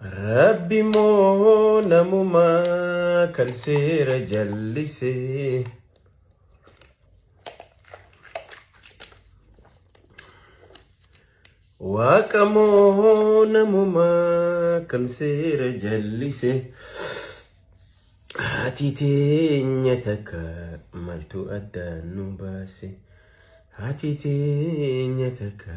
Rabbi moo namuma kan seera jallise. Waaqa moo namuma kan seera jallise. Haati teenya takka maltu addaan nu baase. Haati teenya takka.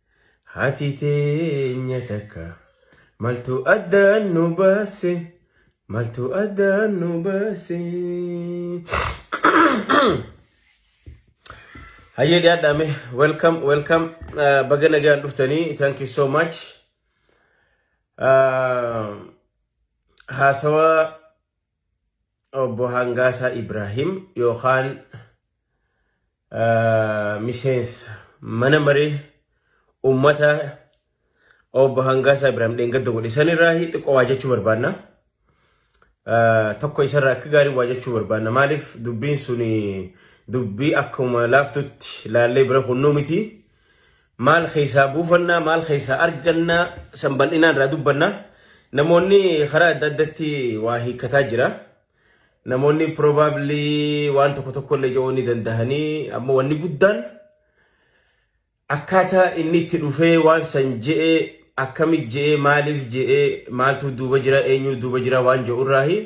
Haati teenya takka maltu addaan nu baase maltu addaan nu baase. Hayyee dhiyaadhaame welcome welcome uh, baga nagaan dhuftanii thank you so much. Uh, haasawaa Obbo Hangaasaa Ibraahim yookaan miseensa mana maree uummata obbo Hangaasaa Ibraahim dheengadda godhe sanirraa xiqqoo waa jechuu barbaanna. Tokko isarraa akka gaarii waa jechuu barbaanna. Maaliif dubbiin sun dubbii akkuma laaftutti laallee bira kunnuu miti. Maal keessaa buufannaa, maal keessaa arganna san bal'inaan irraa dubbanna. Namoonni karaa adda addatti waa hiikkataa jira. Namoonni probably waan tokko tokko illee jedhuu ni dandahanii amma wanni guddaan akkaataa inni itti dhufee waan san je'ee akkamit je'ee maaliif je'ee maaltu duuba jira eenyu duuba jira waan je'u irraahi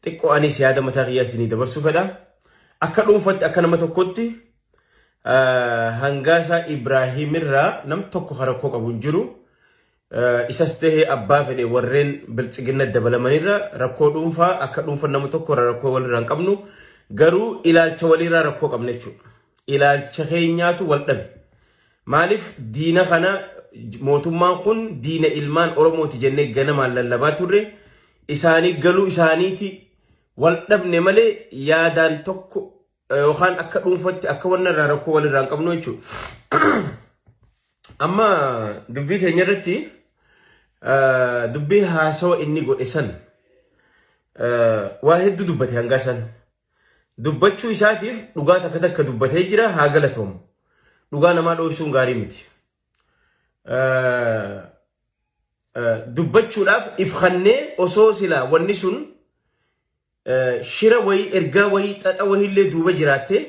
xiqqoo anis yaada mataa kiyyaa isinii dabarsuu fedha. Akka dhuunfatti akka nama tokkotti Hangaasaa Ibraahiim irraa nam tokko kan rakkoo qabu hin jiru. Isas ta'ee abbaa fedhe warreen biltsiginna dabalamanirra rakkoo dhuunfaa akka dhuunfa nama tokko irra rakkoo walirraa hin qabnu. Garuu ilaalcha waliirraa rakkoo qabna jechuudha. Ilaalcha keenyaatu wal dhabe. Maaliif diina kana mootummaan kun diina ilmaan Oromooti jennee ganamaan lallabaa turre isaanii galuu isaaniiti wal dhabne malee yaadaan tokko yookaan akka dhuunfatti akka wanna irraa rakkoo walirraa hin qabnu jechuudha. Amma dubbii keenya irratti dubbii haasawa inni godhe san waa hedduu dubbate hangaa san. Dubbachuu isaatiif dhugaa takka takka dubbatee jira haa galatoomu. Dhugaa namaa dhoorsuun gaarii miti. Dubbachuudhaaf ifannee osoo silaa wanni sun shira wayii ergaa wayii xaxa wayiillee duuba jiraattee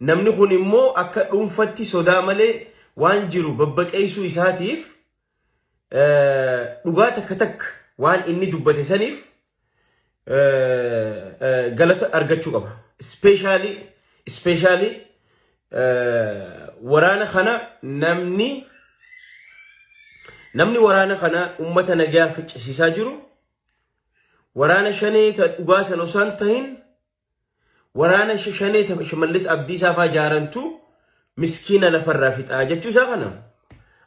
namni kun immoo akka dhuunfatti sodaa malee waan jiru babbaqeessuu isaatiif dhugaa takka takka waan inni dubbate saniif galata argachuu qaba. Ispeeshaalii ispeeshaalii waraana kana namni namni waraana kana uummata nagaa ficcisiisaa jiru Waraana shanee ta dhugaa san osoo hin tahin waraana sh- shanee ta shimallis abdiisaa faa jaarantu miskiina lafarraa fixaa jechuu isaa kana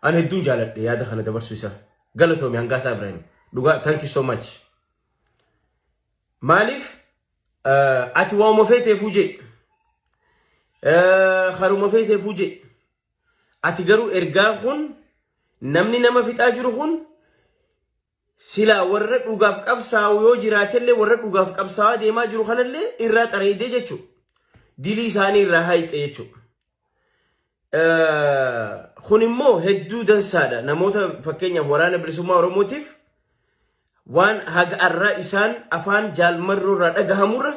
an hedduun jaaladhe yaada kana dabarsuu isaa galatoomi hangaasaa Ibrahim dhugaa thank you so much maaliif eh, ati waanuma feeteefuu jedhe Eh, haruma feeteefuu jedhe ati garuu ergaa kun namni nama fixaa jiru kun Silaa warra dhugaaf qabsaa'u yoo jiraatellee warra dhugaaf qabsaa'aa deemaa jiru kanallee irraa xareeydee jechuudha. Dilii isaanii irraa haayxe jechuudha. Kun immoo hedduu dansaadha. Namoota fakkeenyaaf waraana bilisummaa Oromootiif waan haga arraa isaan afaan jaalmarroo irraa dhagahamurra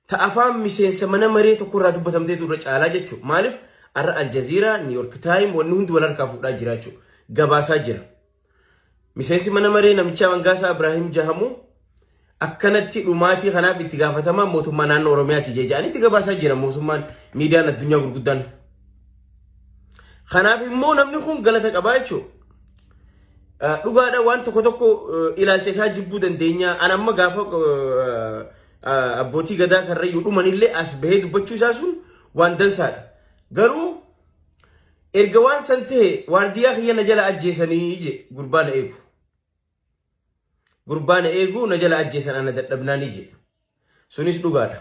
ta afaan miseensa mana maree tokko irraa dubbatamtee turre caalaa jechuudha. Maaliif arra Aljaziiraa, Niiyork Taayim wanni hundi wal harkaa fuudhaa jira jechuudha. Gabaasaa jira. Miseensi mana maree namichaa Mangaasaa Ibraahim Jahamuu akkanatti dhumaatii kanaaf itti gaafatamaa mootummaa naannoo Oromiyaati jedhanii itti gabaasaa jira mootummaan miidiyaan addunyaa gurguddaan. Kanaaf immoo namni kun galata qabaa jechuudha. Dhugaadha waan tokko tokko ilaalcha isaa jibbuu dandeenya. An amma gaafa abbootii gadaa karrayyuu dhumanillee as bahee dubbachuu isaa sun waan dansaadha. Garuu Erga waan san ta'e waardiyaa kiyya na jala ajjeesanii je gurbaa na eegu. Gurbaa na eegu na jala ajjeesan ana dadhabnaanii je. Sunis dhugaadha.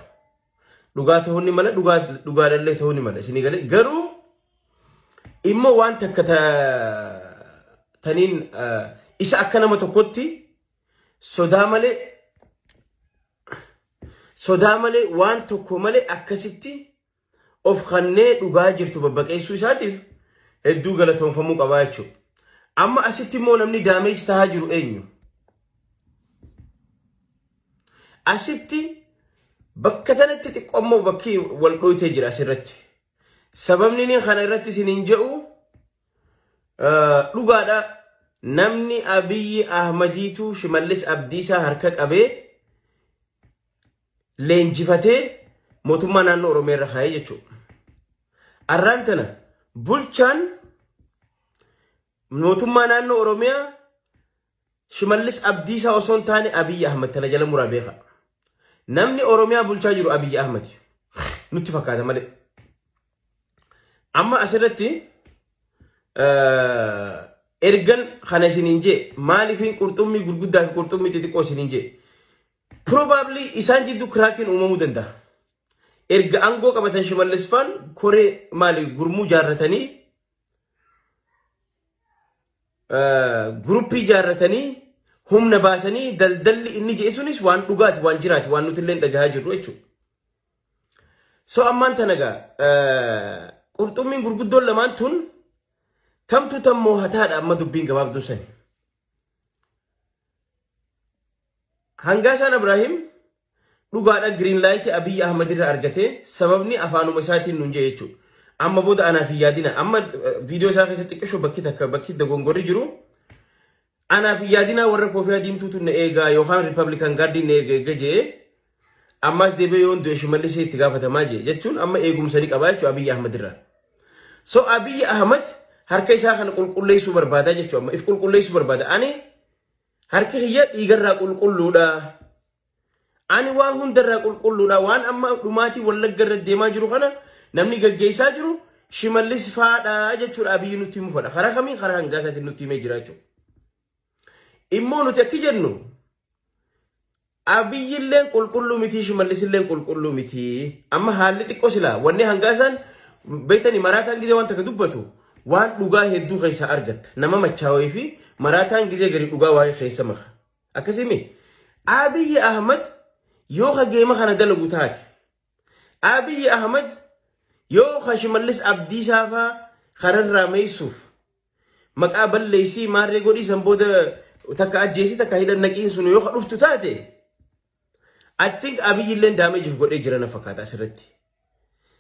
Dhugaa ta'uu ni mala dhugaa dhugaadhallee ta'uu ni mala isinii galee garuu immoo waan takka ta taniin eh, isa akka nama tokkotti sodaa malee sodaa malee waan tokko malee akkasitti of kannee dhugaa jirtu babbaqeessuu isaatiif hedduu galatoomfamuu qabaa jechuudha. Amma asitti immoo namni daameeji tahaa jiru eenyu? Asitti bakka tanatti xiqqoommoo bakki wal dhooytee jira asirratti. Sababni inni kana irratti isin hin jedhu dhugaadha namni Abiyyi Ahmadiitu Shimallis Abdiisaa harka qabee leenjifatee mootummaa naannoo Oromiyaa irra kaa'ee jechuudha. Arraan tana bulchaan mootummaa naannoo Oromiyaa Shimallis Abdiisaa osoo hin taane Abiyyi Ahmad tana jala muraa beeka. Namni Oromiyaa bulchaa jiru Abiyyi Ahmad nutti fakkaata malee. Amma asirratti ergan kana isiniin jee maaliif qurxummii gurguddaa fi qurxummii xixiqqoo isiniin jee Probably isaan jidduu kiraakiin uumamuu danda'a. Erga aangoo qabatan Shimallis faan koree maali gurmuu jaarratanii guruppii jaarratanii humna baasanii daldalli inni jedhe sunis waan dhugaati waan jiraati waan nuti illee dhagahaa jirru jechuudha. So ammaan tana egaa qurxummiin gurguddoon lamaan tun tamtu tammoo hataadha amma dubbiin gabaabduu sani. Hangaasaan Abraahim dhugaadha Green Light Abiy Ahmed irra argate sababni afaanuma isaatiin nun jedhe jechuudha. Amma booda anaaf hin yaadina. Amma viidiyoo isaa keessatti xiqqisho bakki takka bakki dogongorri jiru. Anaaf hin yaadina warra koofiyaa diimtuutu na eegaa yookaan Riippablikaan gaardiin na eega eega jee ammaas deebi'ee yoon du'e shimallisee itti gaafatamaa jee jechuun amma eegumsa ni qabaa jechuudha Abiy Ahmed irraa. So Abiy Ahmed harka isaa kana qulqulleessuu barbaada jechuudha amma if qulqulleessuu barbaada. Ani Harki kiyya dhiigarraa qulqulluudha. Ani waan hundarraa qulqulluudha. Waan amma dhumaatii wallagga irra deemaa jiru kana namni gaggeessaa jiru shimallis faadha jechuudha abiyyi nutti himu fadha. Karaa kamiin karaa hangaa isaatiin nutti himee jira jechuudha. Immoo nuti akki jennu Abiyyilleen qulqulluu mitii shimallisilleen qulqulluu mitii. Amma haalli xiqqoo silaa wanni hangaa isaan beektanii maraataan gizee waan takka dubbatu waan dhugaa hedduu keessaa argatta. Nama machaawee fi maraataan gizee gadi dhugaa waa'ee keessa maka. Akkasimi Abiyyi Ahmad yoo ka geema kana dalagu taate. Abiyyi Ahmad yoo ka shimallis abdiisaafaa kararraa meessuuf Maqaa balleessii maarree godhii san booda takka ajjeesii takka hidhan naqiin sun yoo dhuftu taate I think Abiy illee daameejiif godhee jira na fakkaata asirratti.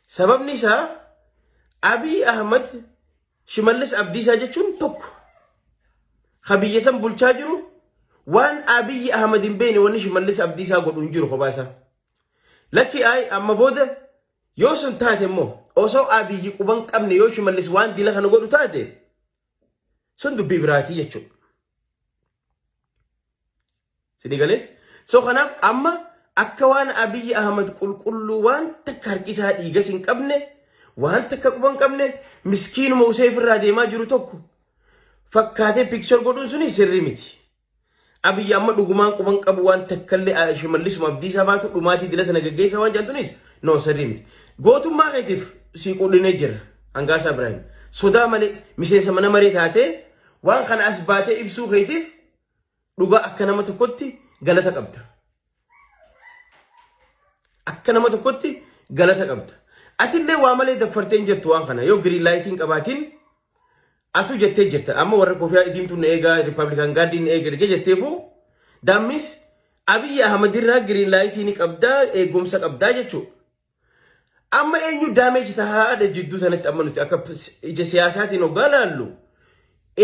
Sababni isaa Abiy Ahmad Shimallis Abdiisaa jechuun tokko. Ka biyya san bulchaa jiru waan Abiy Ahmad hin beekne wanni Shimallis Abdiisaa godhu hin jiru kophaa isaa. Lakki ayi amma booda Yoo sun taate immoo osoo Abiyyi quban qabne yoo Shimallis waan dila kana godhu taate sun dubbii biraatii jechuudha. Sini galee? So kanaaf amma akka waan Abiyyi Ahmad qulqulluu waan takka harkisaa dhiigas hin qabne waan takka quba hin qabne miskiinuma usee ofirraa deemaa jiru tokko fakkaatee piikchar godhuun suni sirrii miti. Abiyyi amma dhugumaan quban qabu waan takkallee shimallisuma abdiisaa baatu dhumaatii dilata na geggeessaa waan jedhantunis noo sirrii miti. Gootummaa keetiif sii quudhinee jirra. Hangaasaa Ibraahim. Sodaa malee miseensa mana maree taatee waan kana as baatee ibsuu keetiif dhugaa akka nama tokkotti galata qabda. Akka nama tokkotti galata qabda. Atillee waa malee daffarteen jettu waan kana yoo giriin laayitiin qabaatiin atu jettee jirta. Amma warra kofiyaa idiimtuun na eegaa riippablikaan gaaddiin na eega ergee jetteefuu daammis Abiyyi Ahmad irraa giriin laayitii ni qabdaa eegumsa qabdaa jechuudha. Amma eenyu daameeji tahaadha jidduu sanatti amma nuti akka ija siyaasaatiin hoggaa laallu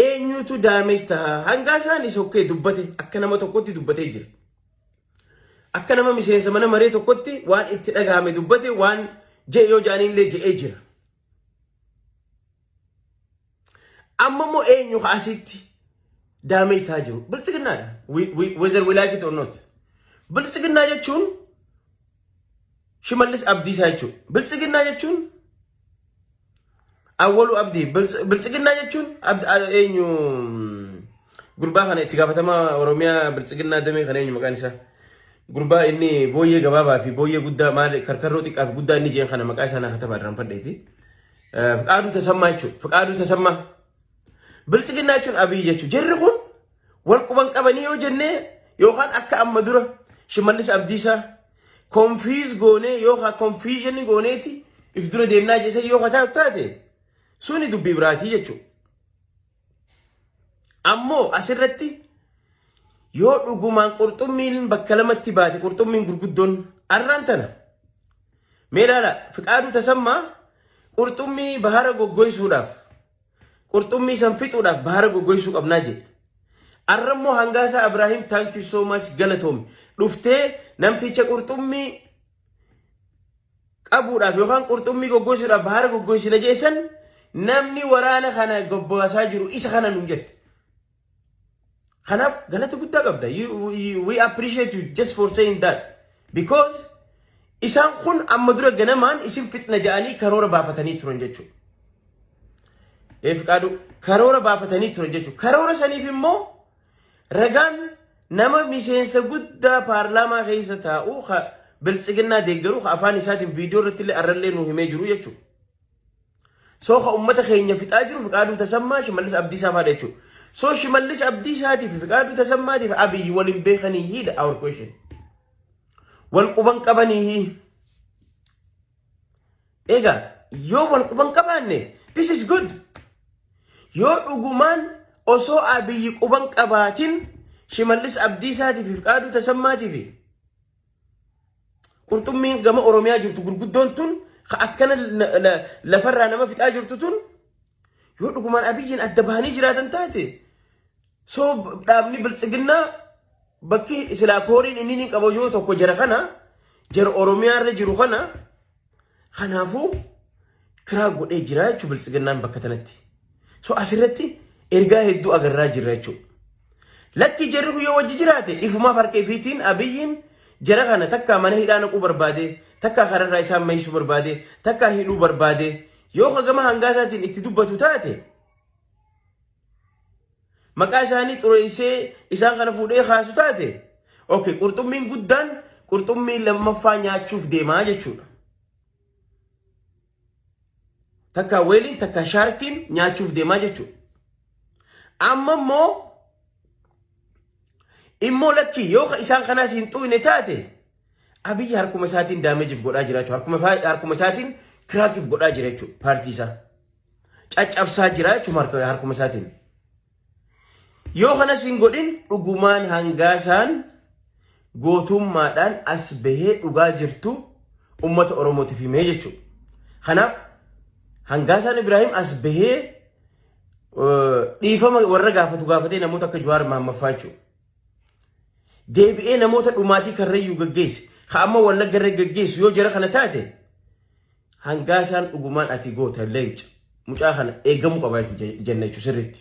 eenyutu daameeji taha hangaa isaanii sokkee dubbate akka nama tokkotti dubbatee jira. Akka nama miseensa mana maree tokkotti waan itti dhagahame dubbate waan je'e yoo ja'aniillee je'ee jira. Amma immoo eenyu kaasitti daamee taa jiru biltsiginnaadha. Wezar wilaayit xonnoot. Biltsiginnaa jechuun shimallis abdiisaa jechuudha. Biltsiginnaa jechuun awwaluu abdii. Biltsiginnaa jechuun eenyu gurbaa kana itti gaafatamaa Oromiyaa biltsiginnaa damee kana eenyu maqaan isaa. Gurbaa inni booyyee gabaabaa fi booyyee guddaa maal karkarroo xiqqaa fi guddaa inni jeen kana maqaa isaa naa katabaa irraan fadheeti. Fiqaaduu tasammaa jechuudha. Fiqaaduu tasammaa. Biltsiginnaa jechuun abiyyi jechuudha. Jarri kun wal quban qabanii yoo jennee yookaan akka amma dura shimallis abdiisaa konfiiz goonee yookaan konfiizhinii gooneeti if dura deemnaa jeesee yoo kataa taate suni dubbii biraatii jechuudha. Ammoo asirratti yoo dhugumaan qurxummiin bakka lamatti baate qurxummiin gurguddoon arraan tana. Mee ilaala fiqaaduu tasammaa qurxummii bahara goggoysuudhaaf qurxummii san fixuudhaaf bahara goggoysuu qabnaa jedhe. Arrammoo hangaasaa Abiraahim thank you so much galatoomi dhuftee namticha qurxummii qabuudhaaf yookaan qurxummii goggosuudhaaf bahaara goggosina jeessan namni waraana kana gobbaasaa jiru isa kana nuun jette. Kanaaf galata guddaa qabda. You- you- We appreciate you just for saying that. Because isaan kun amma dura ganamaan isin fixna ja'anii karoora baafatanii turan jechuudha. Eef qaaduu karoora baafatanii turan jechuudha. Karoora saniif immoo Ragaan nama miseensa guddaa paarlaamaa keessa taa'u ka biltsiginnaa deeggaruu ka afaan isaatiin viidiyoo irratti illee arrallee nu himee jiru jechuudha. Soo ka uummata keenya fixaa jiru Fiqaaduu Tasammaa Shimallis Abdiisaa faadha jechuudha. Soo Shimallis Abdiisaatii fi Fiqaaduu Tasammaatiif Abiyyi waliin beekanii hiidha our question. Wal quban qabanii hii. Egaa yoo wal quban qabaanne this is good. Yoo dhugumaan osoo abiyyi quban qabaatin shimallis abdiisaatiif fi qaaduu tasammaatiif qurxummiin gama oromiyaa jirtu gurguddoon tun ka akkana la- la- lafarraa nama fixaa jirtu tun yoo dhugumaan abiyyiin adda bahanii jiraatan taate So dhaabni biltsiginnaa bakki silaa kooriin inni ni qabu yoo tokko jara kana jara Oromiyaa irra jiru kana kanaafuu kiraa godhee jira jechuun biltsiginnaan bakka kanatti. So asirratti ergaa hedduu agarraa jirra jechuudha. Lakki jarri kun yoo wajji jiraate ifumaaf harka ifiitiin abiyyiin jara kana takkaa mana hidhaa naquu barbaade takkaa kararraa isaan mayisu barbaade takkaa hidhuu barbaade yoo hagama hangaa isaatiin itti dubbatu taate Maqaa isaanii xureessee isaan kana fuudhee kaasu taate okay, qurxummiin guddaan qurxummii lammaffaa nyaachuuf deemaa jechuudha. Takka weeliin takka shaarkiin nyaachuuf deemaa jechuudha. Amma immoo immoo lakkii yoo ka isaan kanaas hin xuuyne taate abiyyi harkuma isaatiin daameejiif godhaa jira jechuudha. Harkuma isaa- harkuma isaatiin kiraakiif godhaa jira jechuudha paartii isaa. caccabsaa jira jechuun harkuma isaatiin. Yoo kanas hin godhin dhugumaan hangaasaan gootummaadhaan as bahee dhugaa jirtu uummata Oromootiif himee jechuudha. Kanaaf hangaasaan Ibrahim as bahee dhiifama warra gaafatu gaafatee namoota akka Jawaar Maammaffaa jechuudha. Deebi'ee namoota dhumaatii karrayyuu gaggeesse. Ka amma wallagga irra gaggeessu yoo jara kana taate Hangaasaan dhugumaan ati goota leenca mucaa kana eegamuu qaba jechuudha jenna jechuudha sirriitti.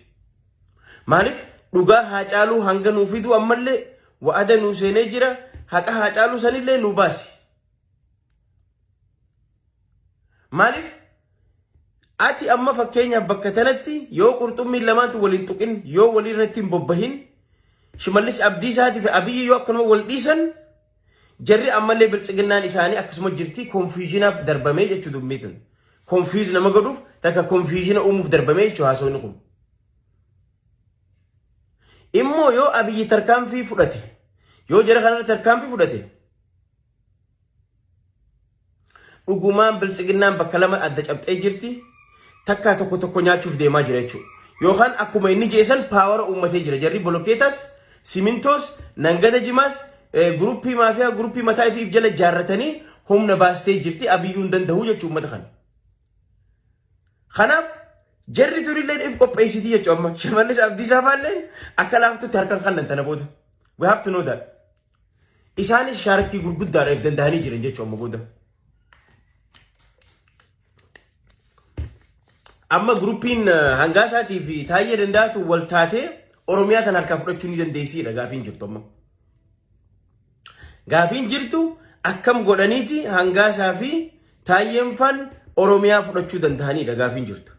Maaliif dhugaa haa caaluu hanga nuu fiduu ammallee wa'ada nuu seenee jira haqa haa caaluu sanillee nuu baasi. Maaliif ati amma fakkeenyaaf bakka tanatti yoo qurxummiin lamaantu waliin tuqin yoo walirratti hin bobbahin shimallis abdiisaatii fi abiyyi yoo akkanuma wal dhiisan Jarri ammallee biltsiginnaan isaanii akkasuma jirti konfiizhinaaf darbamee jechuu dubbii tun. Konfiiz nama godhuuf takka konfiizhina uumuuf darbamee jechuu haasawni kun. Immoo yoo abiyyi tarkaanfii fudhate yoo jara kanarra tarkaanfii fudhate Dhugumaan biltsiginnaan bakka lama adda cabxee jirti. Takkaa tokko tokko nyaachuuf deemaa jira jechuudha. Yookaan akkuma inni jeesan paawara uummatee jira. Jarri bolokeetaas, simintoos, nangada jimaas, guruppii maafiyaa, guruppii mataa ifiif jala ijaarratanii humna baastee jirti. Abiyyuu hin danda'u jechuudha uummata kana. Kanaaf jarri durilleen if qopheessiti jechuudha amma. Shimallis Abdiisaa faalleen akka laaftutti harkaan kannan tana booda. We have to know that. Isaanis shaarkii gurguddaadha if danda'anii jiran jechuun amma booda. Amma guruppiin hangaa isaatii fi taa'ee danda'atu wal taatee Oromiyaa kan harkaa fudhachuu ni dandeessiidha gaafiin jirtu amma. Gaafiin jirtu akkam godhaniiti hangaa isaa fi taa'een faan Oromiyaa fudhachuu danda'aniidha gaafiin jirtu.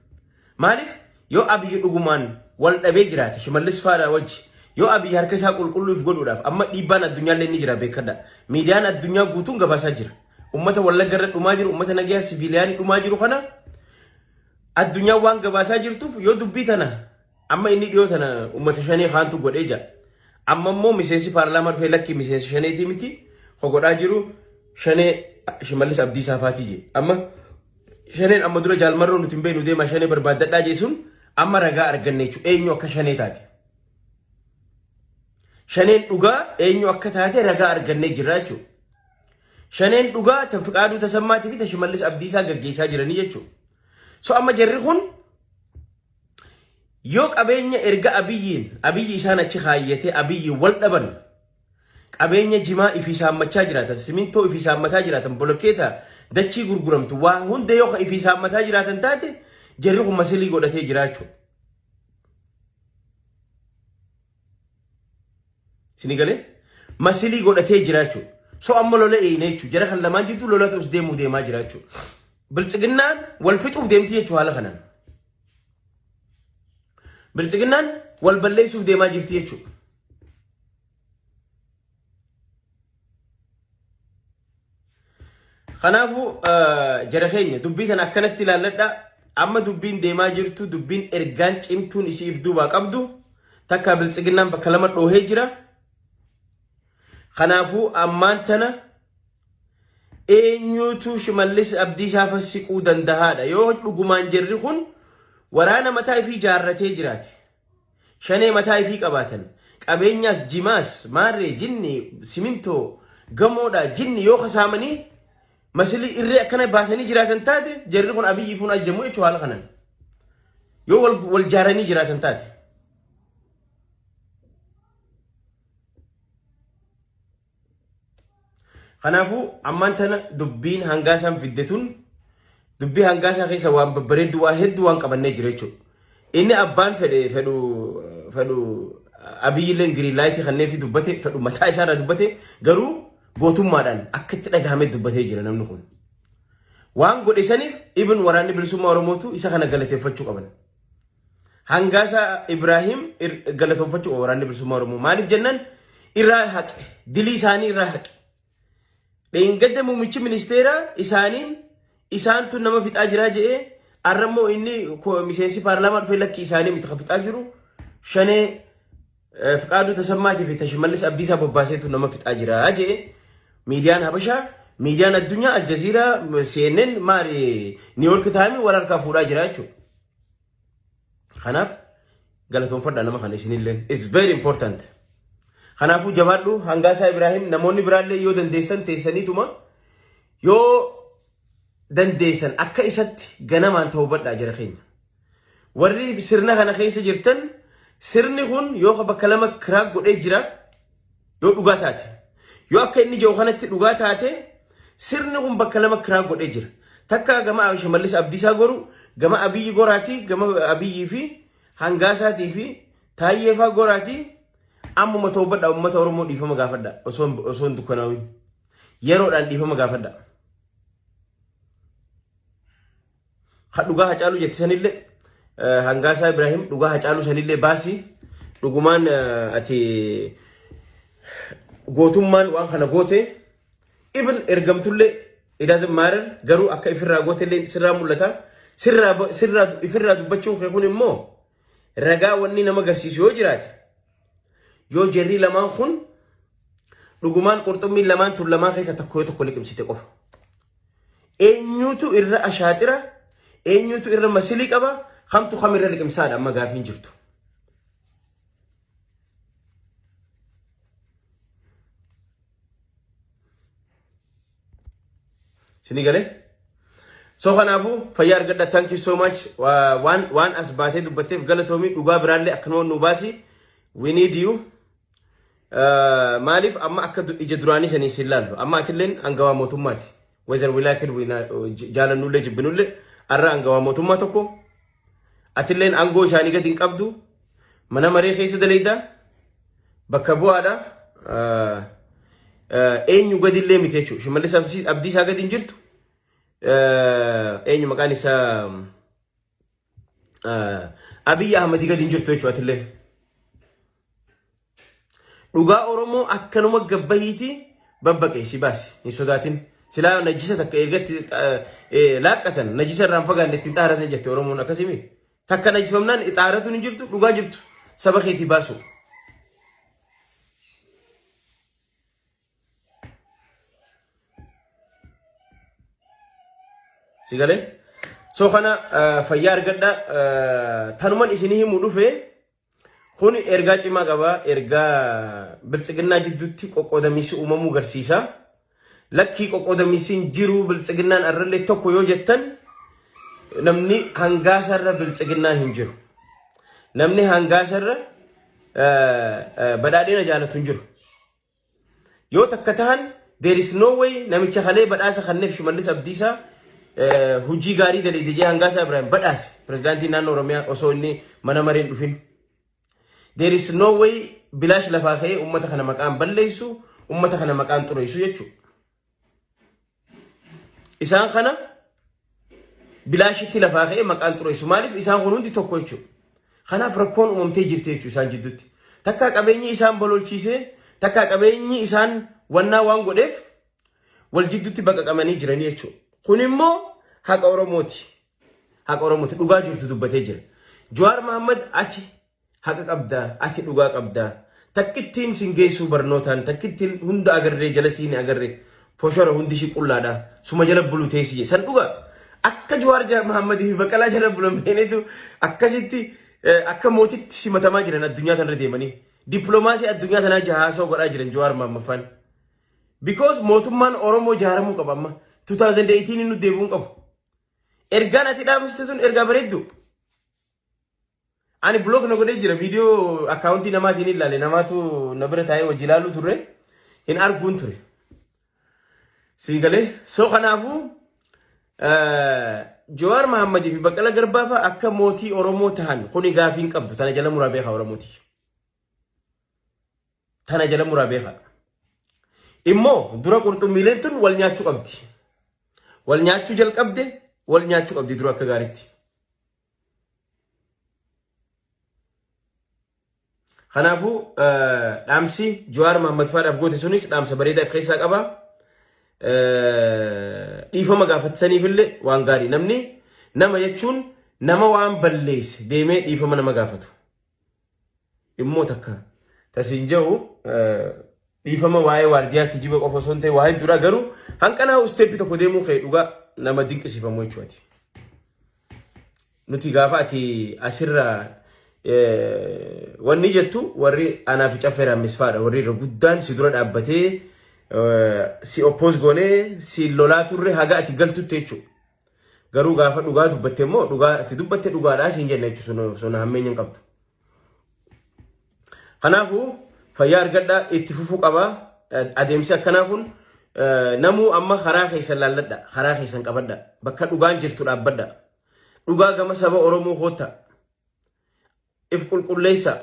Maaliif yoo Abiy dhugumaan wal dhabee jiraate Shimallis Faadhaa wajji yoo Abiy harka isaa qulqulluu if godhuudhaaf amma dhiibbaan addunyaallee ni jira beekadha. Miidiyaan addunyaa guutuun gabaasaa jira. Ummata Wallagga irra dhumaa jiru, ummata nagayaa siviiliyaanii dhumaa jiru kana addunyaan waan gabaasaa jirtuuf yoo dubbii tana amma inni dhiyoo tana ummata shanee kaantu godhee jira. Amma immoo miseensi paarlaamaa dhufee lakki miseensi shaneetii miti ko godhaa jiru shanee Shimallis Abdiisaa faatii jedhe. Amma Shaneen amma dura jaalmarroo nuti hin beeknu deemaa shanee barbaaddadhaa jeesuun amma ragaa arganne jechuudha. Eenyu akka shanee taate. Shaneen dhugaa eenyu akka taate ragaa argannee jirra jechuudha. Shaneen dhugaa tan fiqaaduu tasammaatii fi ta shimallis abdiisaa gaggeessaa jiranii jechuudha. So amma jarri kun yoo qabeenya erga abiyyiin abiyyi isaan achi kaayyatee abiyyiin wal dhaban Qabeenya jimaa ifii saammachaa jiraatan, simintoo ifii saammataa jiraatan, bolokkeeta dachii gurguramtu waan hunda yoo ifii saammataa jiraatan taate jarri kun masilii godhatee jiraachuu. Sini galee masilii godhatee jiraachuu. So amma lola eeyne jechuu jara kan lamaan jidduu lolatu us deemuu deemaa jiraachuu. Biltsiginnaan wal fixuuf deemti jechuu haala kanaan. Biltsiginnaan wal balleessuuf deemaa jirti jechuudha. Kanaafuu jara keenya dubbii kana akkanatti ilaalladha. Amma dubbiin deemaa jirtu dubbiin ergaan cimtuun isiif duubaa qabdu takka biltsiginnaan bakka lama dhoohee jira. Kanaafuu ammaan tana eenyuutu shimallis abdiisaa fassiquu danda'aadha yoo dhugumaan jirri kun waraana mataa ifii ijaarratee jiraate. Shanee mataa ifii qabaatan. Qabeenyaas jimaas maarree jinni simintoo gamoodhaa jinni yoo kasaamanii masilii irree akkana baasanii jiraatan taate jarri kun abiyyi fuun ajjamu jechuun haala kanan. Yoo wal, wal jaaranii jiraatan taate. Kanaafuu ammaan tana dubbiin hangaa isaan fidde tun dubbii hangaa isaa keessa waan babbareeddu waan hedduu waan qabannee jira jechuudha. Inni abbaan fedhe fedhu fedhu abiyyilleen giriin laayitii kanneen fi dubbate fedhu mataa isaa irraa dubbate garuu gootummaadhaan akka itti dhagahame dubbatee jira namni kun. Waan godhe saniif ibn waraanni bilisummaa Oromootu isa kana galateeffachuu qaban. Hangaasa Ibraahiim galatoonfachuu qaba waraanni bilisummaa Oromoo. Maaliif jennaan irraa haqe. Dilii isaanii irraa haqe. Dheengadda muummichi ministeeraa isaaniin isaantu nama fixaa jiraa jedhee arrammoo inni miseensi paarlaamaa dhufee lakkii isaanii miti kan fixaa jiru shanee fiqaaduu tasammaatii fi tashimallis abdiisaa bobbaaseetu nama fixaa jiraa jedhee miidiyaan habashaa miidiyaan addunyaa aljaziiraa CNN maali niiwoorki taa'anii wal harkaa fuudhaa jira jechuudha. Kanaaf galatoonfadha nama kana isinillee. It's very important. Kanaafuu jabaadhu hangaasaa Ibraahim namoonni biraallee yoo dandeessan teessaniituma yoo dandeessan akka isatti ganamaan tawbadhaa jira keenya. Warri sirna kana keessa jirtan sirni kun yoo bakka lama kiraak godhee jira. Yoo dhugaa taate. Yoo akka inni jiru kanatti dhugaa taate sirni kun bakka lama kiraa godhee jira. Takka gama Shimallis Abdiisaa goru, gama Abiyyi goraatii, gama Abiyyii fi Hangaasaatii fi Taayyeefaa goraatii ammuma toobadha uummata Oromoo dhiifama gaafadha osoo osoo hin dukkanaawin. Yeroodhaan dhiifama gaafadha. Kan dhugaa hacaaluu jette sanillee hangaasaa Ibraahim dhugaa hacaaluu sanillee baasii dhugumaan ati gootummaan waan kana goote even ergamtullee it doesn't matter garuu akka ifirraa gootellee sirraa mul'ata sirraa ifirraa dubbachuun kee kun immoo ragaa wanni nama garsiisu yoo jiraate Yoo jarri lamaan kun dhugumaan qurxummiin lamaan tun lamaan keessa tokko yoo tokko liqimsite qofa. Eenyutu irra ashaaxira, eenyutu irra masilii qaba, kamtu kam irra liqimsaadha amma gaafiin jirtu. Sini galee? So kanaafuu fayyaa argadha thank you so much Wa- waan waan as baatee dubbatteef galatoomii dhugaa biraallee akkanuma nu baasi we need you Uh, maaliif amma akka du- ija duraanii sanii siin laallu amma atilleen angawaa mootummaati whether we like it we not- j- jaalannullee jibbinullee arra angawaa mootummaa tokko Atilleen aangoo isaanii gadi hin qabdu. Mana maree keessa daleeyda. Bakka bu'aadha. Eenyu gadi illee miti jechuudha. Shimallis abdii isaa gadi hin jirtu. Eenyu maqaan isaa Abiyyi Ahmadi gadi hin jirtu jechuudha atilleen. Dhugaa Oromoo akkanuma gabbahiiti babbaqee si baasi hin sodaatin. Silaa najisa takka eegatti laaqqatan najisa irraan fagaanne ittiin xaaratan jette Oromoon akkasimi. Takka najifamnaan xaaratuun hin jirtu dhugaa jirtu saba keetii baasu. Sigalee? So kana fayyaa argadha tanuman isinii himu dhufee. Kun ergaa cimaa qaba. Ergaa biltsiginnaa jidduutti qoqqoodamiinsi uumamuu garsiisa. Lakkii qoqqoodamiinsi hin jiru biltsiginnaan arrallee tokko yoo jettan namni hangaasarra biltsiginnaan hin jiru. Namni hangaasarra badhaadhina jaalatu hin jiru. Yoo takka tahan there is no way namicha kalee badhaasa kanneef Shimallis Abdiisaa eh, hojii gaarii daleede jee Hangaasaa Ibrahim badhaase pirezidaantii naannoo Oromiyaa osoo inni mana mareen dhufin. There is no way bilaash lafaa ka'ee uummata kana maqaan balleessu, uummata kana maqaan xureessu jechuudha. Isaan kana bilaashitti lafaa ka'ee maqaan xureessu. Maaliif isaan kun hundi tokko jechuudha. Kanaaf rakkoon uumamtee jirti jechuudha isaan jidduutti. Takkaa qabeenyi isaan bololchiisee takkaa qabeenyi isaan wannaa waan godheef wal jidduutti baqaqamanii jiranii jechuudha. Kun immoo haqa Oromooti. Haqa Oromooti. Dhugaa jirtu dubbatee jira. Jawaar Mahammad ati Haqa qabda ati dhugaa qabda. Takkittiin sin geessuu barnootaan takkittiin hunda agarree jalasii ni agarre foshora hundi ishii qullaadha suma jala bulu teessi je san dhugaa akka Jawaar Ja- Mahammad fi Baqqalaa jala bulan beenetu akkasitti eh, akka mootitti simatamaa jiran addunyaa tanarra deemanii dippiloomaasii addunyaa tanaa jahaasoo godhaa jiran Jawaar Mahammaffaan. Because mootummaan Oromoo jaaramuu qaba amma 2018 nu deebi'uu hin qabu. Ergaan ati dhaamsiste sun ergaa bareeddu. Ani block na godhee jira viidiyoo akkaawuntii namaatiin hin ilaale namaatu na bira taa'ee wajji ilaaluu turre hin arguun ture. Sii galee so kanaafuu Jawaar Mahammadii fi Baqqala Garbaa fa'a akka mootii Oromoo tahan kuni gaafii hin qabdu tana jala muraa beekaa Oromooti. Tana jala muraa beekaa. Immoo dura qurxummiileen tun wal nyaachuu qabdi. Wal nyaachuu jalqabde wal nyaachuu qabdi dura akka gaariitti. Kanaafuu dhaamsi Jawaar Mahammad Faadhaaf goote sunis dhaamsa bareedaa of keessaa qaba. Dhiifama gaafatisaniifillee waan gaarii namni nama jechuun nama waan balleesse deemee dhiifama nama gaafatu. immoo takka tasiin jedhu dhiifama waa'ee waardiyaa kijiba qofa osoo hin ta'e waa hedduudha garuu hanqanaa isteeppii tokko deemuu kee dhugaa nama dinqisiifamu jechuudha. Nuti gaafa ati asirra wanni jettu warri anaa fi caffeeraan misfaadha warri irra guddaan si dura dhaabbatee si oppoos goonee si lolaa turre haga ati galtutti jechuudha. Garuu gaafa dhugaa dubbatte immoo dhugaa itti dubbatte dhugaadhaa siin jenna jechuun sona hammeenya hin qabdu. Kanaafuu fayyaa argadhaa itti fufuu qabaa adeemsi akkanaa kun namuu amma karaa keessan laalladha karaa keessan qabadha bakka dhugaan jirtu dhaabbadha dhugaa gama saba Oromoo kootta if qulqulleessa.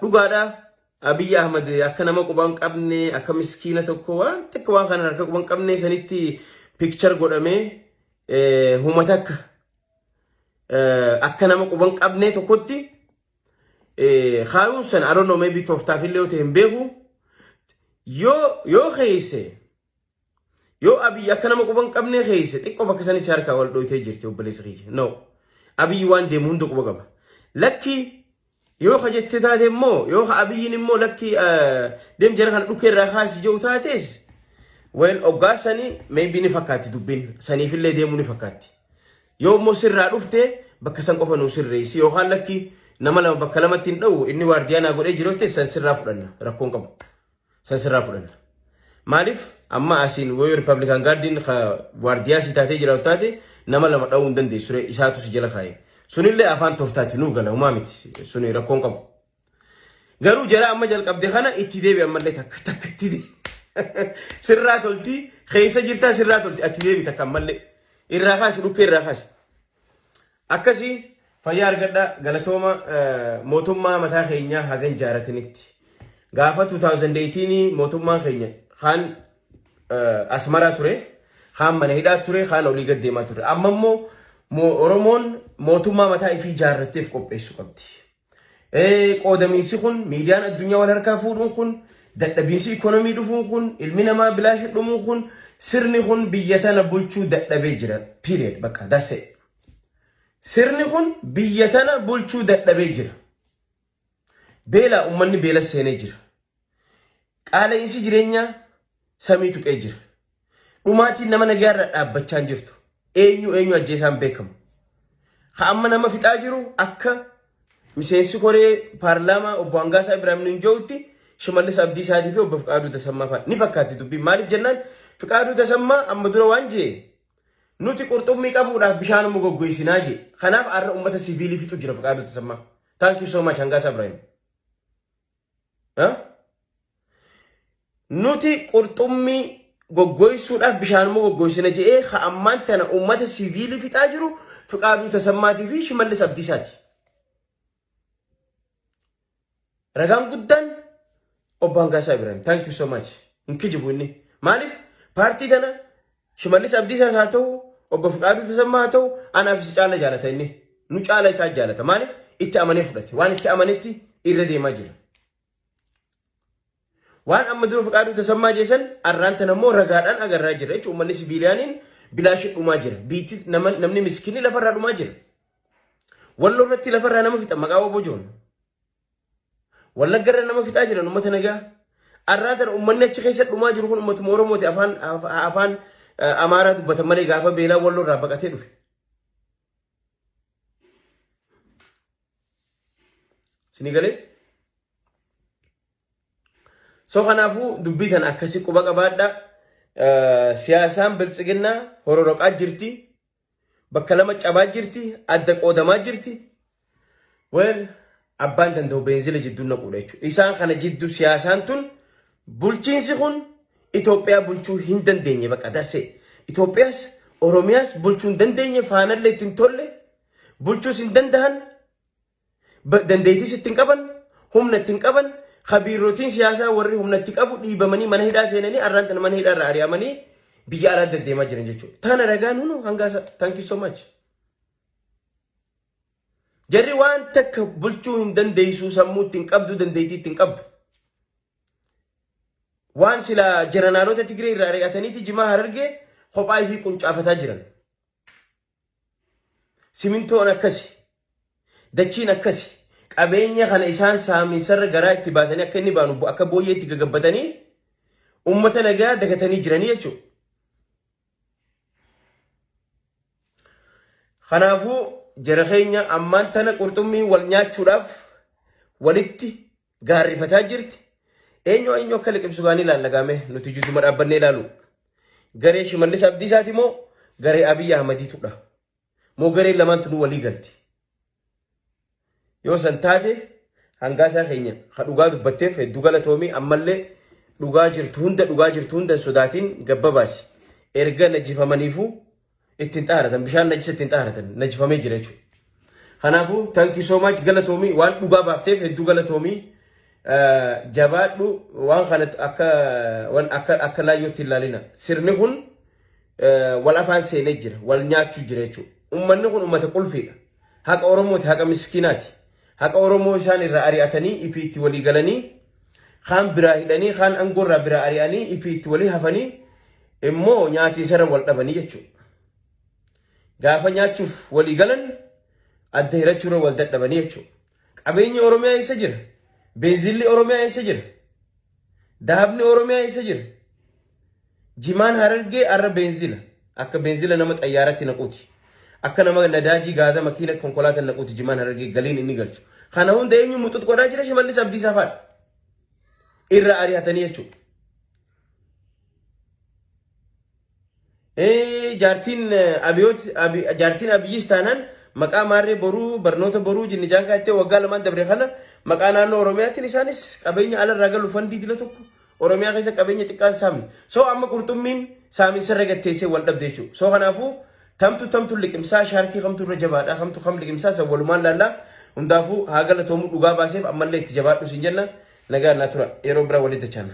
Dhugaadha Abiyyi Ahmad akka nama quba hin qabne akka miskiina tokko waan xiqqoo waan kana harka quba hin qabne sanitti piikchar godhamee humata akka akka nama quba hin qabne tokkotti kaayuun sana I don't know maybe tooftaaf illee yoo ta'e hin beeku yoo yoo keeyse Yoo Abiy akka nama quba hin qabnee keeyse xiqqoo bakka sanis harkaa wal dhooytee jirti obboleessa kiyya. No. Abiy waan deemu hunda quba qaba. Lakki yoo ka jette taate immoo yoo ka Abiyyiin immoo lakki deem jara kana dhukkee irraa kaasi jedhu taates weel oggaa sanii maybe ni fakkaatti dubbiin saniifillee deemuu ni fakkaatti. Yoo immoo sirraa dhufte bakka san qofa nuu sirreessi yookaan lakki nama lama bakka lamatti hin dha'u inni waardiyaa naa godhee jiru san sirraa fudhanna rakkoon qabu. San sirraa fudhanna. Maaliif amma asiin wayoo Riippablikaan gaaddiin waardiyaa sii taatee jiraatu taate nama lama dha'uu hin dandeessu ree isaatu si jala kaa'e. Sunillee afaan tooftaati nuu gala humaa miti suni rakkoon qabu. Garuu jara amma jalqabde kana itti deebi ammallee takka takka itti deebi. Sirraa tolti keessa jirtaa sirraa tolti ati deebi takka ammallee irraa kaasi dhukkee irraa kaasi. Akkasi fayyaa argadha galatooma mootummaa mataa keenyaa hagan jaaratinitti. Gaafa 2018 mootummaan keenya kaan asmaraa ture, kaan mana hidhaa ture, kaan olii gad deemaa ture. Amma immoo Oromoon mootummaa mataa ifii jaarratteef qopheessu qabdi. Qoodamiinsi kun miidiyaan addunyaa wal harkaa fuudhuun kun dadhabiinsi ikoonomii dhufuun kun ilmi namaa bilaashi dhumuun kun sirni kun biyya tana bulchuu dadhabee jira. Period. Bakka dasse. Sirni kun biyya tana bulchuu dadhabee jira. Beela uummanni beela seenee jira. Qaala'insi jireenyaa samii tuqee jira. Dhumaatiin nama nagaa irra dhaabbachaa hin jirtu. Eenyu eenyu ajjeesaan beekamu. Ha amma nama fixaa jiru akka miseensi koree paarlaamaa obbo Hangaasaa Ibraahim Ninjoo'utti Shimallis Abdiisaatii fi obbo Fiqaaduu Tasammaa fa'a ni fakkaatti dubbiin. Maaliif jennaan Fiqaaduu Tasammaa amma dura waan jee nuti qurxummii qabuudhaaf bishaan immoo goggoisinaa jee. Kanaaf har'a uummata siviilii fixu jira Fiqaaduu Tasammaa. Thank you so much Hangaasaa Ibraahim. Nuti qurxummii goggoysuudhaaf bishaan immoo goggoysina je'ee ka ammaan tana uummata siviilii fixaa jiru Fiqaaduu Tasammaatii fi Shimallis Abdiisaati. Ragaan guddaan obbo Hangaasaa Ibrahim. Thank you so much. Hin kijibu inni. Maaliif paartii tana Shimallis Abdiisaas haa ta'u, obbo Fiqaaduu Tasammaa haa ta'u, anaaf isa caala jaalata inni. Nu caala isaa jaalata. Maaliif? Itti amanee fudhate. Waan itti amanetti irra deemaa jira. Waan amma dura Fiqaaduu Tasammaa jeesan arraan tan ammoo ragaadhaan agarraa jira jechuun uummanni sibiiliyaaniin bilaashii dhumaa jira. Biitti namni miskinni lafarraa dhumaa jira. Walloo irratti lafarraa nama fixa maqaa obbo Joon. Wallagga irra nama fixaa jiran uummata nagaa. Arraa tana uummanni achi keessa dhumaa jiru kun uummatuma Oromooti afaan af- afaan eh, Amaaraa dubbatan malee gaafa beelaa walloo irraa baqatee dhufe. Sini galee? So kanaafuu dubbii tana akkasi quba qabaadha. Eh, Siyaasaan biltsiginnaa hororoqaa jirti. Bakka lama cabaa jirti, adda qoodamaa jirti. Well, abbaan danda'u beenzila jidduu naquudha jechuudha. Isaan kana jidduu siyaasaan tun bulchiinsi kun Itoophiyaa bulchuu hin dandeenye baqa dassee. Itoophiyaas Oromiyaas bulchuu hin dandeenye faanallee ittiin tolle bulchuus hin danda'an Dandeettis ittiin qaban, humna ittiin qaban, kabiirrotiin siyaasaa warri humna itti qabu dhiibamanii mana hidhaa seenanii arraan tana mana hidhaa irraa ari'amanii biyya alaa deddeemaa jiran jechuudha. Tana ragaan hunu hangaa isaa. Thank you so much. Jarri waan takka bulchuu hin dandeessuu sammuu ittiin qabdu dandeettii ittiin qabdu. Waan sila jeranaalota Tigree irraa ari'ataniiti jimaa harargee kophaa fi quncaafataa jiran. Simintoon akkasi. Dachiin akkasi. Qabeenya kana isaan saaminsarra garaa itti baasanii akka inni baanu bo- akka booyyee itti gagabbatanii uummata nagaa dagatanii jiranii jechuudha. Kanaafuu jara keenya ammaan tana qurxummii wal nyaachuudhaaf walitti gaarrifataa jirti. Eenyu eenyu akka liqimsu gaanii ilaalla gaamee nuti jidduma dhaabbannee ilaalu. Garee Shimallis Abdiisaati moo garee Abiyyi Ahmadiitudha? Moo garee lamaantu nu walii galti? Yoo san taate hangaasaa keenya ha dhugaa dubbatteef hedduu galatoomii ammallee dhugaa jirtu hunda dhugaa jirtu hunda hin sodaatiin gabbabaasi. Erga najjifamaniifuu ittiin xaharatan bishaan najisa ittiin xaharatan najifamee jira jechuudha. Kanaafuu thank you so much galatoomii waan dhugaa baafteef hedduu galatoomii jabaadhu waan kana akka waan akka akka laayyootti ilaalina sirni kun wal afaan seenee jira wal nyaachuu jira jechuudha. Uummanni kun uummata qulfiidha. Haqa Oromooti haqa miskiinaati. Haqa Oromoo isaan irraa ari'atanii ifi itti walii galanii kaan biraa hidhanii kaan angoorraa biraa ari'anii ifi itti walii hafanii immoo nyaatiinsarra wal dhabanii jechuudha. Gaafa nyaachuuf walii galan adda hirachuurra wal dadhabanii jechuudha. Qabeenyi Oromiyaa eessa jira? Beenzilli Oromiyaa eessa jira? Dahabni Oromiyaa eessa jira? Jimaan harargee arra beenzila. Akka beenzila nama xayyaaratti naquuti. Akka nama nadaajii gaaza makiina konkolaataan naquuti jimaan harargee galiin inni galchu. Kana hunda eenyu muxuxqodhaa jira shimallis abdiisaa faadha. Irra ari'atanii jechuudha. Jaartiin jaartiin Abiyyis taanaan maqaa maarree boruu barnoota boruu jinni jaankaa jettee waggaa lamaan dabre kana maqaa naannoo Oromiyaatiin isaanis qabeenya alarraa galu fandii dila tokko Oromiyaa keessa qabeenya xiqqaan saamne. So amma qurxummiin saaminsarra gatteessee wal dhabde jechuudha. So kanaafuu Tamtu tamtu liqimsaa shaarkii kamtu irra jabaadha kamtu kam liqimsaa san walumaan laallaa hundaafuu haa galatoomu dhugaa baaseef ammallee itti jabaadhu sin jenna nagaa naa tura yeroo biraa walitti dachaana.